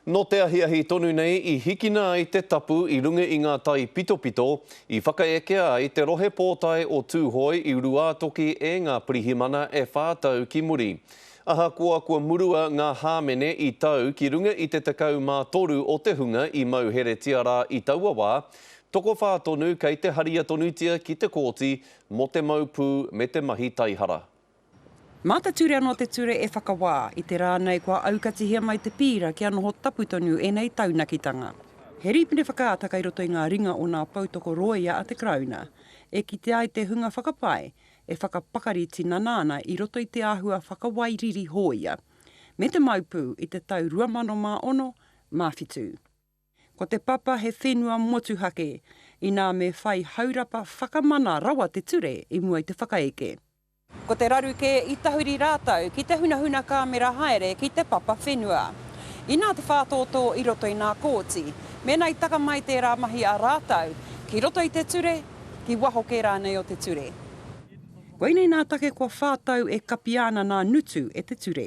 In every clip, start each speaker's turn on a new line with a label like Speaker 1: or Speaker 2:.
Speaker 1: Nō te ahiahi tonu nei i hikina ai te tapu i runga i ngā taipitopito i whakaekea ai te Rohe Pōtae o Tūhoe i Ruātoki e ngā pirihimana e whā tau ki muri. Ahakoa kua murua ngā hāmene i tau ki runga i te 13 o te hunga i mauheretia rā i taua wā, tokowhā tonu kei te haria tonutia ki te kōti mō te mau pū me te mahi taihara. Mā
Speaker 2: te ture anō te ture e whakawā, i te rā nei kua aukatihia mai te pīra kia noho tapu tonu ēnei taunakitanga. He rīpene whakaata kei roto i ngā ringa o nā poutoko rōia a te Karauna, e kite ai te hunga whakapae e whakapakari tinana ana i roto i te āhua whakawai riri hōia, me te mau pū i te tau 2006, mā whitu. Ko te papa he whenua motuhake, inā me whai haurapa whakamana rawa te ture i mua i te whakaeke. Ko te raru kē i tahuri rātou ki te hunahuna kāmera haere ki te papa whenua. Inā te whātōtō i roto i nā kōti, mēnā i taka mai tērā mahi a rātou ki roto i te ture, ki waho kē rānei o te ture. Koinei nā take kua whā tau e kapia ana nā Nutu e te ture.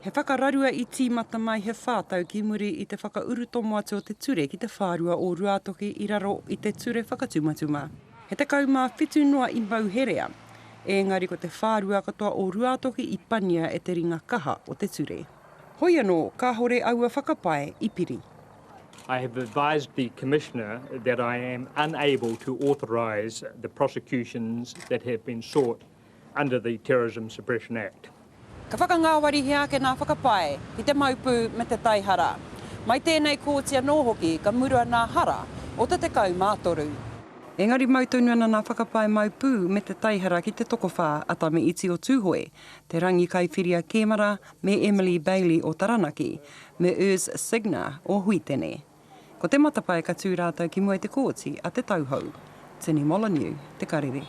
Speaker 3: He whakararua
Speaker 2: i tīmata mai he whā tau ki muri i te whakaurutomo atu o te ture ki te whārua o Ruātoki i raro i te ture whakatumatuma. He tekau mā whitu noa i mau herea, ēngari ko te whārua katoa o Ruātoki i pania e te ringa kaha o te ture. Hoi anō, kāore aua whakapae i piri. I have
Speaker 4: advised the Commissioner that I am unable to authorise the prosecutions that have been sought under the Terrorism Suppression Act. Ka whakangāwarihia
Speaker 2: ake ngā whakapae ki te maupū me te taihara. Mai tēnei kōti anō hoki ka murua ngā hara o te 13. Engari mau tonu ana ngā whakapae maupū me te taihara ki te tokowhā a Tame Iti o Tūhoe, Te Rangi Kaiwhiria Kēmara me Emily Bailey o Taranaki, me Urs Signer o Huitene. Ko te matapae ka tū rātou ki mua i te kōti a Te Tauhou. Tini Molyneux, Te Karere.